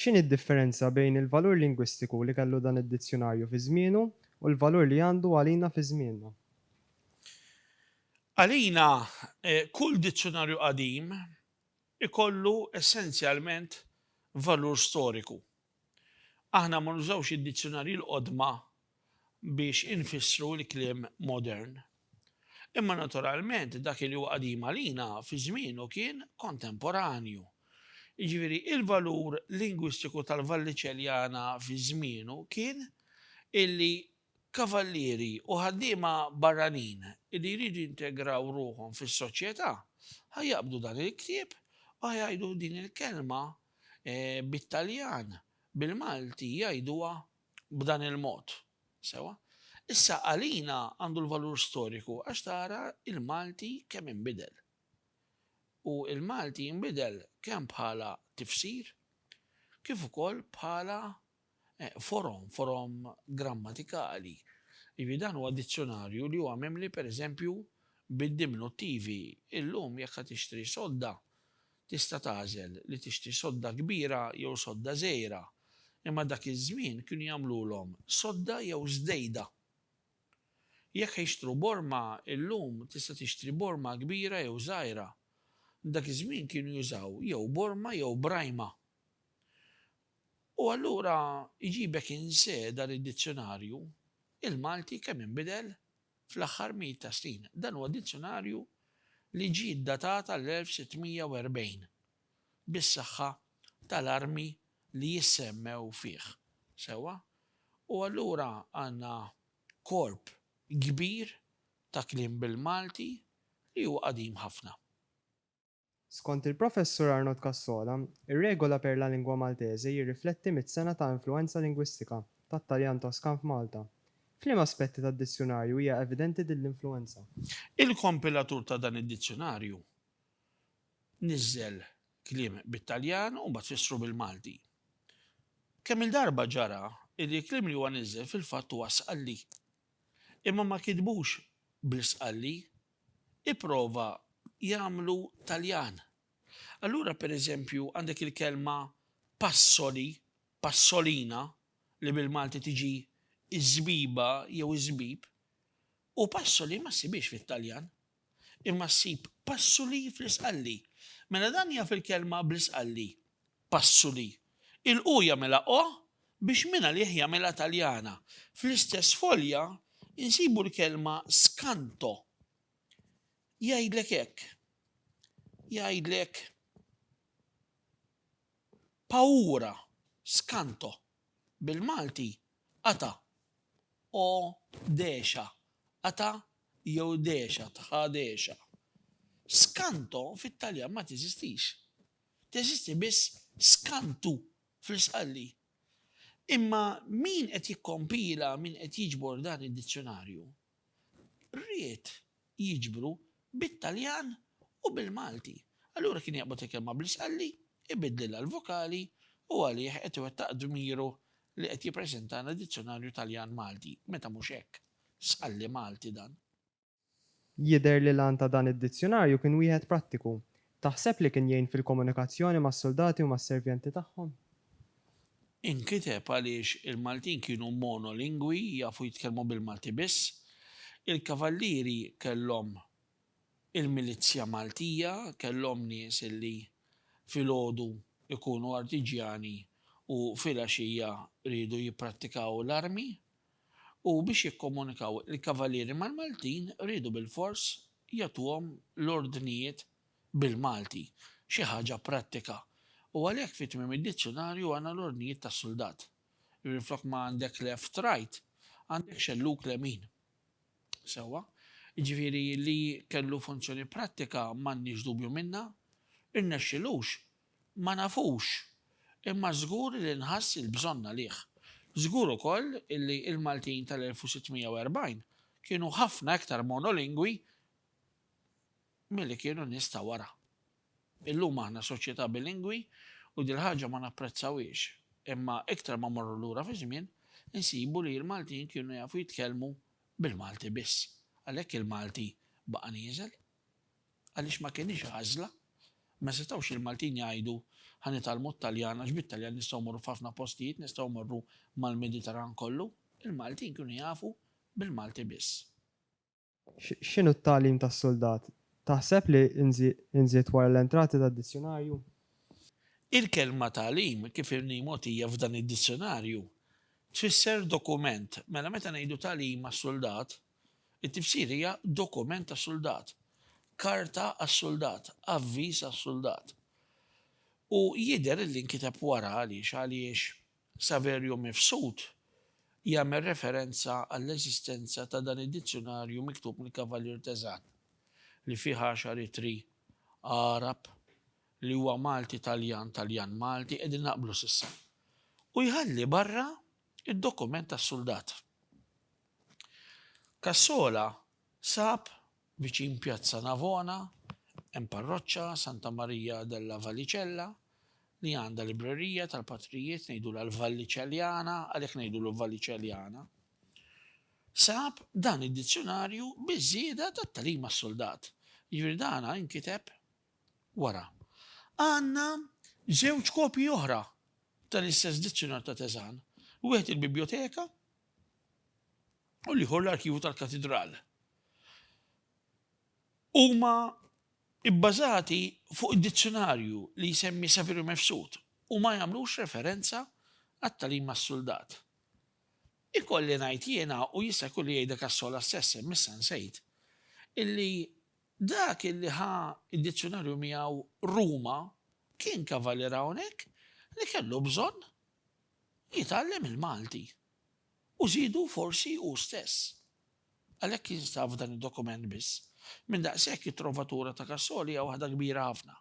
X'inhi d-differenza bejn il-valur lingwistiku li kellu dan id-dizzjunarju fi żmienu u l-valur li għandu għalina fi żmienna? Għalina, kull dizzjunarju qadim ikollu essenzjalment valur storiku. Aħna ma nużawx id-dizzjunarji l-qodma biex infissru l-kliem modern. Imma naturalment dak li hu qadim għalina fi żmienu kien kontemporanju. Jiġifieri il-valur lingwistiku tal-Valliċeljana fi żmienu kien illi Kavallieri u ħaddiema barranin li jridu jintegraw ruħhom fis-soċjetà ħa jaqbdu dan il-ktieb u ħa jgħidu din il-kelma bit-Taljan, bil-Malti jgħiduha b'dan il-mod. Sewwa? Issa għalina għandu l-valur storiku għax tara l-Malti kemm inbidel. U l-Malti inbidel kemm bħala tifsir kif ukoll bħala forom, forom grammatikali. Jiġifieri dan huwa dizzjunarju li huwa mimli pereżempju bid-diminuttivi. Illum jekk ħa tixtri sodda, tista' tagħżel li tixtri sodda kbira jew sodda żgħira. Imma dak iż-żmien kienu jagħmlulhom sodda jew żdejda. Jekk ħa jixtru borma, illum tista' tixtri borma kbira jew żgħira. Dak iż-żmien kienu jużaw jew borma jew brajma. U allura jġibek inseda li d-dizzjonarju, il-Malti kemm inbidel fl-aħħar mijiet ta' snin. Dan huwa dizzjonarju li ġie ddatat għall-1640, bis-saħħa tal-armi li jissemmew fih. Sewwa? U allura għandna korp kbir ta' kliem bil-Malti li huwa qadim ħafna. Skont il-Professur Arnold Cassola, ir-Regola per la Lingua Maltese jirrifletti mitt sena ta' influwenza lingwistika tat-Taljan Toskan f'Malta. F'liema aspetti tad-dizzjunarju hija evidenti din l-influwenza? Il-kompilatur ta' dan id-dizzjunarju niżżel kliem bit-Taljan u mbagħad fissru bil-Malti. Kemm-il darba ġara li l-kliem li huwa niżżel fil-fatt huwa sqalli. Imma ma kitbux bl-isqalli. ipprova jagħmlu Taljan. Allura per eżempju għandek il-kelma passoli, passolina, li bil-Malti tiġi iż-żbiba jew iż-żbib, u passoli ma ssibhiex fit-Taljan. Imma ssib passuli fl-Isqalli. Mela dan jaf il-kelma bl-Isqalli. Passuli. Il-'u' jagħmilha 'o' biex mingħalih jagħmilha Taljana. Fl-istess folja nsibu l-kelma 'skanto'. Jgħidlek hekk. Jgħidlek pawura, skanto. Bil-Malti qata'. O degħxa. Qata' jew degħxa, tħa degħxa. Skanto fit-Taljan ma teżistix. teżisti biss skantu fl-isqalli. Imma min qed jikkompila, min qed jiġbor dan id-dizzjunarju, ried jiġbru bit-Taljan u bil-Malti. Allura kien jaqbad il-kelma bl-isqalli, ibiddlilha l-vokali u għalih qed iwettaq dmiru li qed jippreżentalna dizzjunarju Taljan-Malti, meta mhux hekk, sqalli Malti dan. Jidher li l-għan ta' dan id-dizzjunarju kien wieħed prattiku. Taħseb li kien jgħin fil-komunikazzjoni mas-suldati u mas-servjenti tagħhom? Inkiteb għaliex il-Maltin kienu monolingwi, jafu jitkellmu bil-Malti biss. Il-Kavallieri kellhom il-milizzja Maltija, kellhom nies li filgħodu jkunu artiġjani u filgħaxija riedu jipprattikaw l-armi. u biex jikkomunikaw il-Kavalieri mal-Maltin riedu bilfors jagħtuhom l-ordnijiet bil-Malti, xi ħaġa prattika, u għalhekk fi tmiem id-dizzjunarju għandna l-ordnijiet tas-suldat. Jiġifieri flok ma għandek left right, għandek xellug lemin. Sewwa? Jiġifieri li kellu funzjoni prattika m'għandniex dubju minnha, irnexxilux Ma nafux, imma żgur li nħass il-bżonn għalih. Żgur ukoll illi l-Maltin tal-1640 kienu ħafna iktar monolingwi milli kienu n-nies ta' wara. Illum aħna soċjetà bilingwi u dil-ħaġa ma napprezzawhiex, imma iktar ma mmorru lura fiż-żmien insibu li l-Maltin kienu jafu jitkellmu bil-Malti biss. Għalhekk il-Malti baqa' nieżel. Għaliex ma kinitx għażla. Ma setgħux il-Maltin jgħidu, ħa nitgħallmu t-Taljan għax bit-Taljan nistgħu mmorru f'ħafna postijiet, nistgħu mmorru mal-Mediterran kollu. Il-Maltin kienu jafu bil-Malti biss. X'inhu t-tagħlim tas-suldat? Taħseb li nżied wara l-entrati tad-dizzjunarju? Il-kelma tagħlim, kif inhi mogħtija f'dan id-dizzjunarju, tfisser dokument. Mela meta ngħidu tagħlim għas-suldat, It-tifsira hija dokument tas-suldat, karta għas-suldat, avviż għas-suldat. U jidher illi nkiteb wara għaliex għaliex Saverio Mifsud jagħmel referenza għall-eżistenza ta' dan id-dizzjunarju miktub mill-Kavallier Tezan li fih għaxar ittri Għarab li huwa Malti Taljan Taljan Malti qegħdin naqblu s'issa. U jħalli barra id-dokument tas-suldat. Cassola sab viċin Pjazza Navona hemm parroċċa Santa Maria della Vallicella li għandha librerija tal-patrijiet ngħidulha l-Valliċeljana għalhekk ngħidulu Valliċeljana. Sab dan id-dizzjunarju biż-żieda tat-tagħlim għas-suldat. Jiġifieri dana inkiteb wara. Għandna żewġ kopji oħra tal-istess dizzjunar ta' Teżan. Wieħed il-biblioteka u l-ieħor l-arkivju tal-katidral. Huma bbażati fuq id-dizzjunarju li jsemmi Saverio Mifsud u ma jagħmlux referenza għat-tagħlim mas-suldat. Ikolli ngħid jiena u jista' jkun li jgħidha Cassola stess hemm issa nsejt illi dak illi ħa d-dizzjunarju miegħu Ruma kien kavalier hawnhekk li kellu bżonn jitgħallem il-Malti u żiedu forsi hu stess. Għalhekk jinstab f'dan id-dokument biss. Minn daqshekk it-Trovatura ta' Cassol hija waħda kbira ħafna.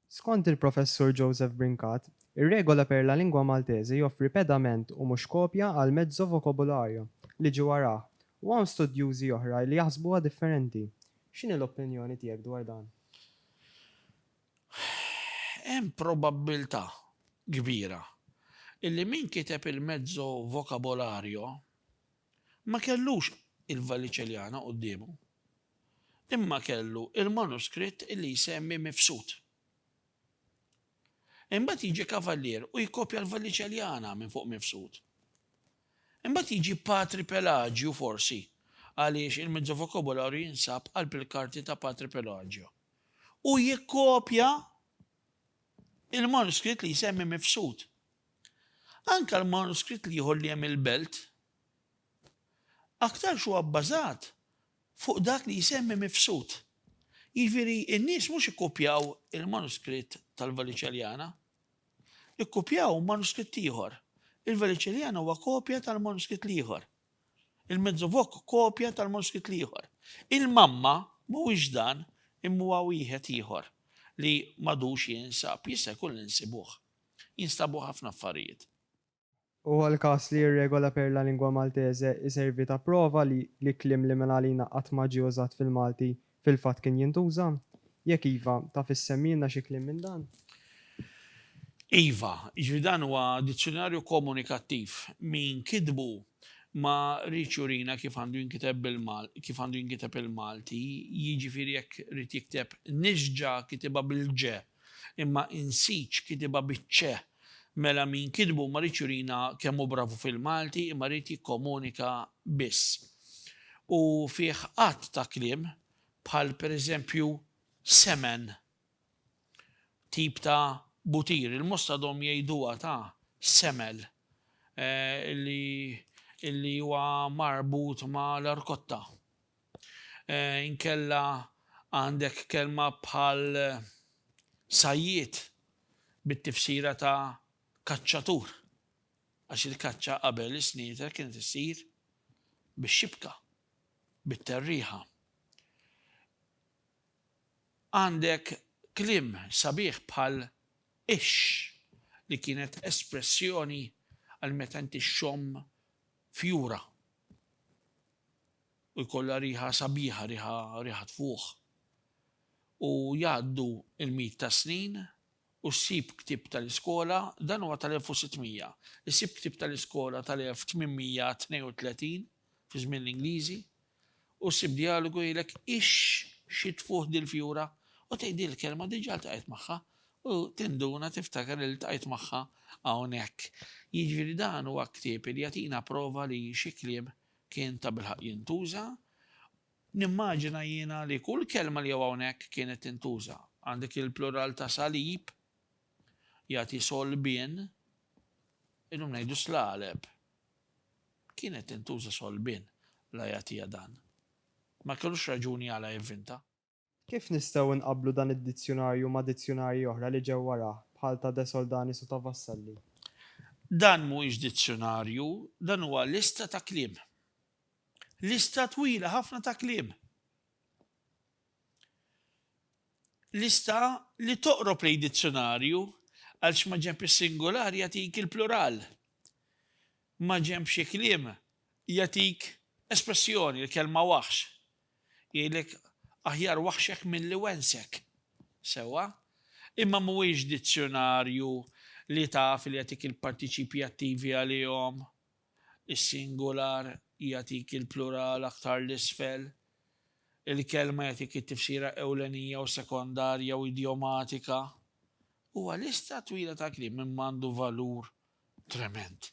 Skont il-Professur Joseph Brincat, ir-Regola per la Lingua Maltese joffri pedament u mhux kopja għal mezzo vocobolario li ġie warah u hawn studjużi oħra li jaħsbuha differenti. X'inhi l-opinjoni tiegħek dwar dan? Hemm probabbiltà kbira li min kiteb il-Mezzo Vocabolario ma kellux il-Vallicelliana quddiemu, imma kellu l-manuskritt li jsemmi Mifsud. Imbagħad jiġi Cavalier u jkopja l-Vallicelliana minn fuq Mifsud. Imbagħad jiġi Patri Pelagiu forsi għaliex il-Mezzo Vocabolario jinsab qalb il-karti ta' Patri Pelagiu. u jikkopja l-manuskritt li jsemmi mifsud. Anke l-manuskritt l-ieħor li hemm il-belt aktarx huwa bbażat fuq dak li jsemmi mifsud. Jiġifieri n-nies mhux ikkupjaw il-manuskritt tal-Veliċeljana, ikkupjaw manuskritt ieħor. Il-Veliċeljana huwa kopja tal-manuskritt l-ieħor. Il-Mezzovoc kopja tal-manuskritt l-ieħor. Il-Mamma mhuwiex dan imma huwa wieħed ieħor li m'għadux jinsab, jista' jkun li nsibuh. Jinstabu ħafna affarijiet. Huwa l-każ li r-Regola per la Lingua Maltese iservi ta' prova li li kliem li minn għalina qatt ma ġie użat fil-Malti Fil-fatt kien jintuża? Jekk iva, taf issemmilna xi kliem minn dan? Iva, jiġifieri dan huwa dizzjunarju komunikattiv. Min kitbu ma riedx jurina kif għandu jinkiteb bil-Mal, kif għandu jinkiteb il-Malti, jiġifieri jekk ried jikteb nixġa kitibha bil-ġe. Imma insitx kitibha biċ-Ċe. Mela min kitbu ma riedx jurina kemm hu bravu fil-Malti imma ried jikkomunika biss. U fih għadd ta' kliem bħal per eżempju semen, tip ta' butir, il-Mosta dhom jgħiduha ta' semel li li huwa marbut ma' l-arkotta. Inkella għandek kelma bħal sajjied bit-tifsira ta' kaċċatur, għax il-kaċċa qabel is-snieder kienet issir bix-xibka, bit-terriħa. Għandek kliem sabiħ bħal ix, li kienet espressjoni għal meta inti xxomm fjura. u jkollha riħa sabiħa riħa riħa tfuħ u jgħaddu l-miet tas-snin u ssib ktieb tal-iskola dan huwa tal-1600 issib ktieb tal-iskola tal-1832 fi żmien l-Ingliżi u ssib djalogu jgħidlek ix xi tfuħ dil-fjura u tgħid din il-kelma diġà ltqajt magħha u tinduna tiftakar li ltqajt magħha hawnhekk. Jiġifieri dan huwa ktieb li jagħtina prova li xi kliem Kien tabilħaqq jintuża. Nimmaġina jiena li kull kelma li hawn hawnhekk kienet tintuża. Għandek il-plural ta' salib, jagħti solbien, illum ngħidu slaleb. Kienet tintuża solbien la jagħtiha dan. Ma kellux raġuni għala jivvinta. Kif nistgħu nqabblu dan id-dizzjunarju ma' dizzjunarji oħra li ġew warah, bħal ta' De Soldanis u ta' Vassalli? Dan mhuwiex dizzjunarju, dan huwa lista ta' kliem. Lista twila ħafna ta' kliem. Lista li toqrob lejn dizzjunarju għaliex ma' ġenb is-singular jagħtik il-plural. Ma' ġenb xi kliem jagħtik espressjoni, il-kelma waħx. Jgħidlek, Aħjar waħxek milli wensek. Sewwa. Imma mhuwiex dizzjunarju li taf li jagħtik il-partiċipji attivi għalihom. Is-singular jagħtik il-plural aktar 'l isfel. Il-kelma jagħtik it-tifsira ewlenija u sekondarja u idjomatika. Huwa lista twila ta' kliem imma għandu valur tremend.